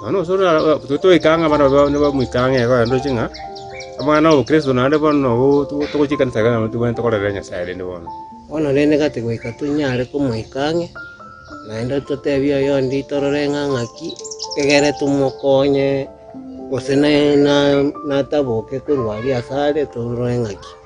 Nonya ase oyio togoika ng'a abana babwo nigo bamoika ang'e iga barendoreche ng'a omwana Kristo naende bono togochia ekanisa iga nabo tobwenerete korera Nyasae rende bono. Bono rende gati goika tonyare komoika ang'e, naende totebie oyonde torore ng'a ng'aki egere tomokonye, gose nataboke korwa aria asare torore ng'aki.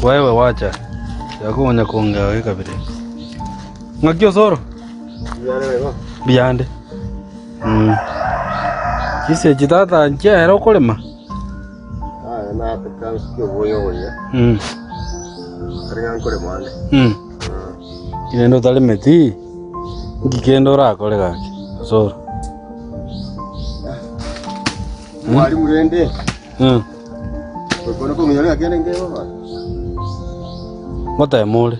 Kwaiwe gwacha, tiga konya kongeo ekabere. Ng'aki osoro? Biyande. Chisechi tata nchiaera okorema? Rende otaremeti, nki kende orakore gaki osoro? Ngotebe more.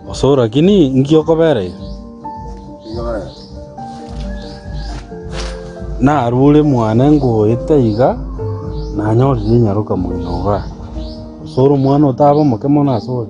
Osoor lakini inki okobera iga? Narure mwane ngoeta iga nanyorire inyaroka moino igaa. Osoor omwana otabe omoke mono asore.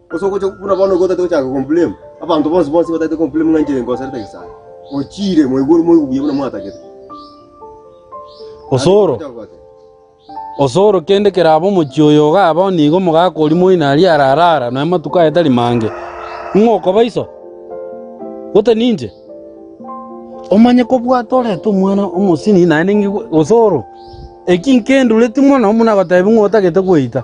Gose ogocha buna bono igo otaete gochaka komblame abanto bonsi bonsi bataete komblame ng'a inche ngoserete Nyasae. Ochiire moigwe ore moigwe buya buna mwatagete. Osoro. Ogocha gote. Osoro kende keraba omochie oyo ogaba onigo omogaka oria moino aria ararara noe amatuko aye tari mange. Ng'o okobaiso? Gose ninche? Omanye kobwata orete omwana omosini naende ngigwe osoro. Eki nkendureti mono buna gotebi ng'a otagete gweita.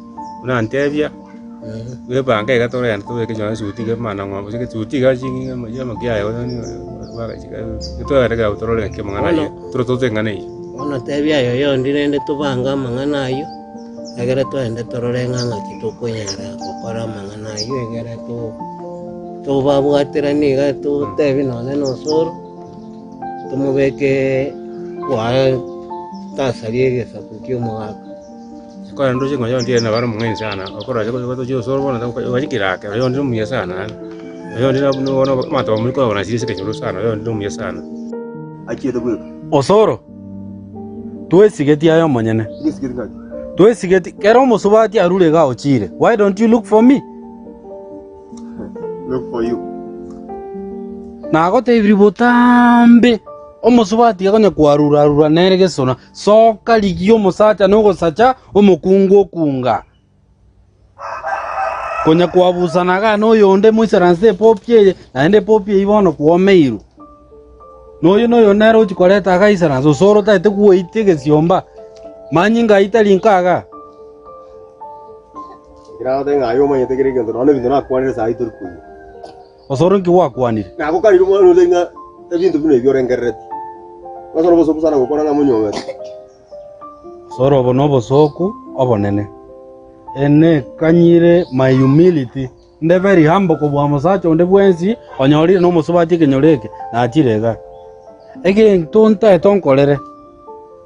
buna ntebia, bwebanga iga tore aye tobeke nonye esuti iga maana ng'obe gose esuti iga ching'ina chiamo kiaye gose totwegete kegabo torore ng'aki amang'ana aye tore tote eng'ana eyio. Bono tebia aye oyonde rende tobange amang'ana ayio, egere twende torore ng'a ng'aki tokonyara gokora amang'ana ayio egere to- tobabwateranie iga totebie nonye na osoro, tomobeke kwaye tasa ria egesaku ki'omogaka. Osoro, twesigetie aye omonyene, twesigetie kera omosubati arure iga ochire, why don't you look for me? Nagotebirie botambe, omosubati iga konya kwarura arura nere gesona, Soka rigia omosacha nogosacha omokungu okunga. Konya kwabusanaga noyonde Moisraeli epopi eye, naende epopi eyio bono kwomeirwe. Noyo noyo nere ochia koreta aga Israeli, gose ore otagete gweita egesiomba, manyie ngaita rinko aga. Osoro inki gwakwanire? Nagokarire omwana onde ng'a ebinto buna ebi orengerereti, ong'asore obosooku sana gokora ng'a monyuomete. Osoro obo nobosooku obonene. Eye nekanyire my humility, inde very humble kobua mosacha onde bwensi onyorire nomosubati ekenyoro eke nachire iga. Egento ntaete onkorere.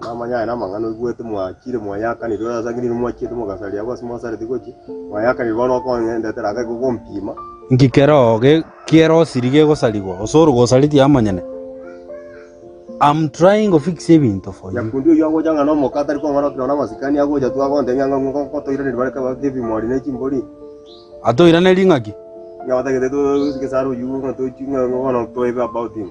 Namanya aye namang'ana oigwete, mwachire, mwayakanire, ore ase ang'e nigo mwachiete mogasaria abwo ase mwasareti gochia, mwayakanire bono okoengendetera ake gogompima. Inki keroo kerosiri gegosarigwa osoro gosareti amonyene? Am trying to fix ebinto for you. Nyakundi oyio agocha ng'a nomoka atari kong'ana okinao namasikani agocha tu agontebia ng'a ng'o ngotoiraneri bare kaba kebimori ne chimbori. Atoirane ring'aki? Ng'a batagete to- to- gesaro oyio ng'a tochi ng'a bono toebe about him.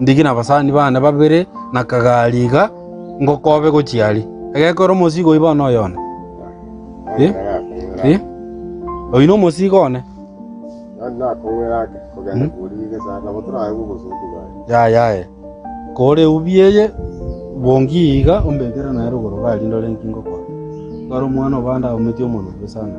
Ndiki nabasani bane babere na kagari iga ngokobe gochia aria. Egekoo ere omosiiga oiba one oyo one? Ee, oino omosiiga one. Yaya aye, koora eubi eye bongi iga ombekere naye rogoro gari ndore inki ngokora. Twara omwana obande aometie omonwa bwe sana.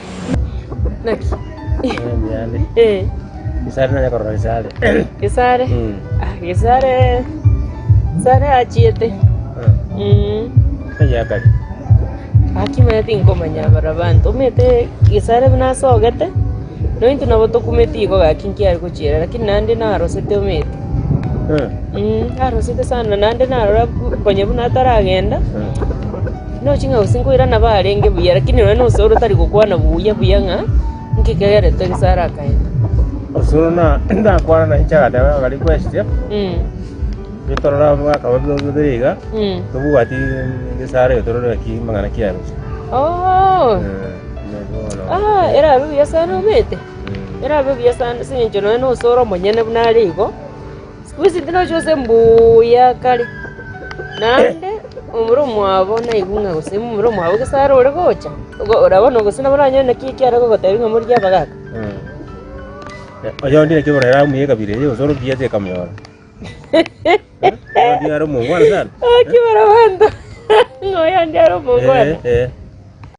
Naki? Enyare. Eh, Isare nanya korora isare. Gesare. Mm. Ah, Gesare. Gesare achiete. Ah, Mm. Oyakari. Akimanya tinkomanya bara banto. Omete Gesare buna asogete. Nointo nabo tokumeti igo gaki nkiare gochiera lakini nande narosete omete. Ah, Mm, arosete sana nande narora bu- konya buna ataragenda. ah. Nochi ng'a gose nkoirana barenge buya, lakini nonye nosoere otari gokwana buya buya ng'a inki kegeretwe egesara akaenda. Osoro na ndakwana na inche agateba ng'a gari kwesike Mm. Ri torore abo mwaka wa bibero bibere iga Mm. tobwati egesara eye torore gaki mang'ana ki arusi. Oh. Ah, erabe buya sana omete. Erabe buya sana ase eng'encho nonye nosoere omonyene buna are igo. Bwensi tinochia gose mbuya kare, naende omobere omwabo naigwe ng'a gose omobere omwabo gose are ore gocha, ogo- orabone gose nabo oranyore naki ekiare gogotebia ng'a morigie abagaka. Oyo onde naki ekero amuya ekabira eye gose orobia ache akamyora. Oyo are omongwana sana. Naki barabwata ng'a oyo onde are omongwana. Eh, eh.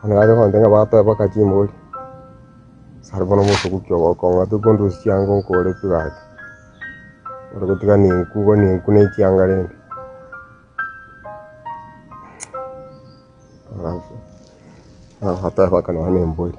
Onye nache kogoteba ng'a bateba baka chinguru, sare bono mosobuki ogokong'a tokondusia chianga nkore pi gaki. Ore gotiga nenku bo nenku ne chianga rende. Nabateba baka nonya ne embori.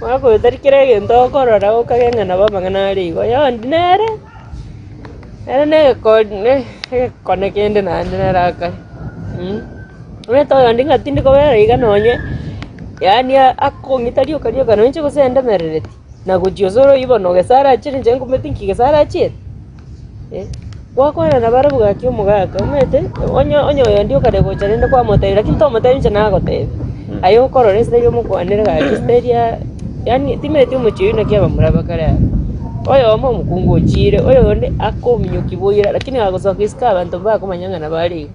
Mwakoyotari kera egento okorora okagenda nabo amang'ana are igo, oyo ondi nere ere na egekoondi na egekone kende naende nere aka mh. Omanyete oyonde ng'a tindi kobera iga nonye yaani a- akong'ita rioka rioka noinche gosendemerereti, nagochia osore oywo bono ogesara achire inche ngomotiki nki gesara achire. Gwakwana nabare bwaki omogaka, omanyete onye onye oyonde okare gocha rende kwamotebia lakini tomotebia inche nagotebia. Aye okorora esegi omokwanere gaki esegi eria yaani timanyeti omochie oyio naki abamurabe kare abwo. Oyomo omokungu ochiire, oyonde akominyokia boira lakini agosoka isiko abanto mbakomanya ng'a nabare iga.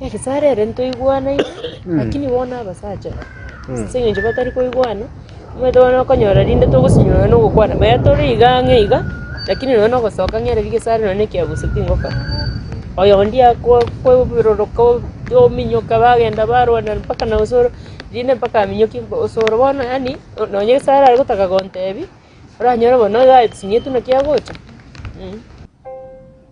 Egesaara ere ntoigwanaine, lakini bono abasacha aba, ase eng'encho batari koigwana, omanyete bono okonyora rinde togosinyora nonya na ogokwana, maya tore iga ang'e iga, lakini nonya na ogosoka ang'e riria egesaara nonya na ekegusu tingokora. Oyo onde akwa kweburoroka ominyoka bagenda barwana mpaka na osoro, rinde mpaka aminyokie osoro bono yaani nonya egesaara are gotaka gontebia, oranyore bono oyo asinyietwe naki agocha, mh.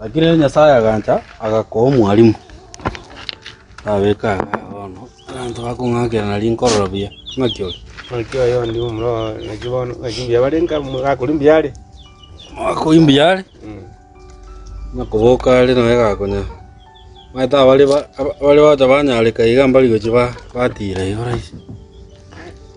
Lakini rende Nyasae agancha, agakoa omwarimu, abeka aye bono abanto bakong'akera na rinkororo buya. Ng'aki oyo? Ng'aki oyo ndi omuro ng'aki bono ng'aki mbuya bare nka gakori mbuya are. Gakori mbuya are, okoboka are naye gakonya. Omanyete abare ba- abare gocha banyareka iga mbari gochia ba- batira iga rahisi.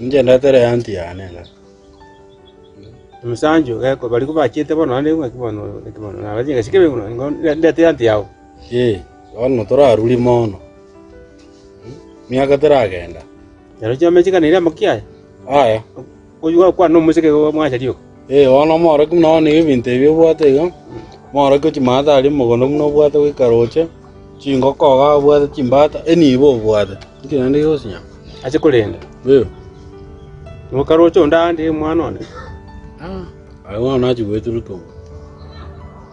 Inche ndetere eanty yane ng'a emesancho geko barabwo bachete bono naende ng'a ki bono ki bono naba chingaki kebe bono igo ndete eanty yao. Ee, bono torarure mono, miaka teragenda. Narochio amache kane ere amaki aya? Aya. Oywo gokwana omoseke igo mwachari oka. Ee, bono omorokia buna one ebinto ebi obwate iga, omorokia o chimaata aria omogondo buna obwate goika roche, chingoko iga abwate chimbaata, enibo obwate, inki naende gigosinyora? Ase korenda, Ee, noka roche onde aande omwana one? Aa, aye bono nachi goeteruka obo.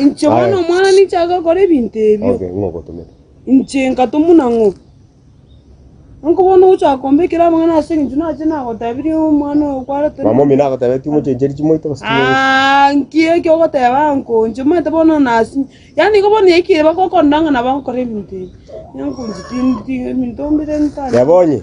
Inche bono Aye. omwana ninche agakora ebinto ebio. Okay, ng'o ogotomete? Inche nkatomwa na ng'o? Nonko bono ogochaka kombekera amang'ana ase eng'encho nache nagotebirie omwana oyo kwarete. Mama omino agotebeti mochencheri chimoito gose chimoito. Ah, nki eki ogoteba nko inche omanyete bono nasinye. Yaani igo bono yaikire bakokondang'ana bagokora ebinto ebi. Nenko inche tindi ti ebinto mbire ntari. Reba onye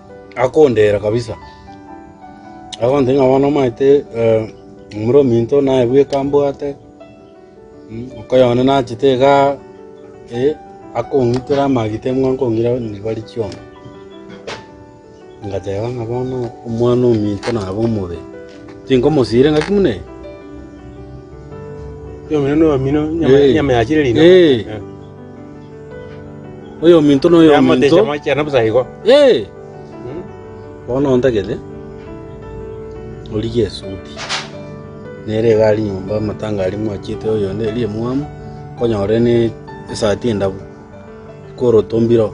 akondeera kabisa, agantebia ng'a bono omanyete momura ominto naye bweka mbwate, okoyo one nachete iga, akong'itora amagita eng'we akong'ira ribari chionsi. Ngateba ng'a bono omwana ominto nabe omobe, tinkomosiria ngaki buna eye. Eeh. Oyominto na oyominto. Ee! Bono ontagete, origie esuti. Nere iga aria nyomba amatanga aria mwachete oyonde eria emwamu, okonyora ore ne esati endabu, koroto mbiro.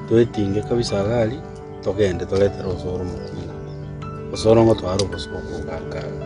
Twetinge kabisa iga aria, togende toretere obosoro mokunga. Obosoro ngotware obosio bokogaka iga.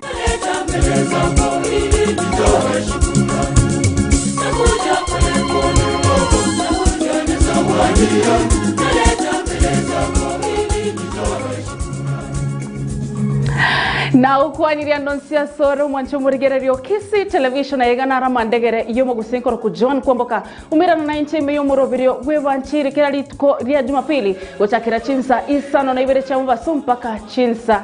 Nagokwanirie ando nsi asore omwanche omorigereria o Kisii Television aye iga naro amandegere iyo omogusii korokwa John Kwamboka omerano na inche ime y'omoroberio bw'evanchiri kera rituko ria Jumapili gochakera chinsa isano na ibere chiamobaso mpaka chinsa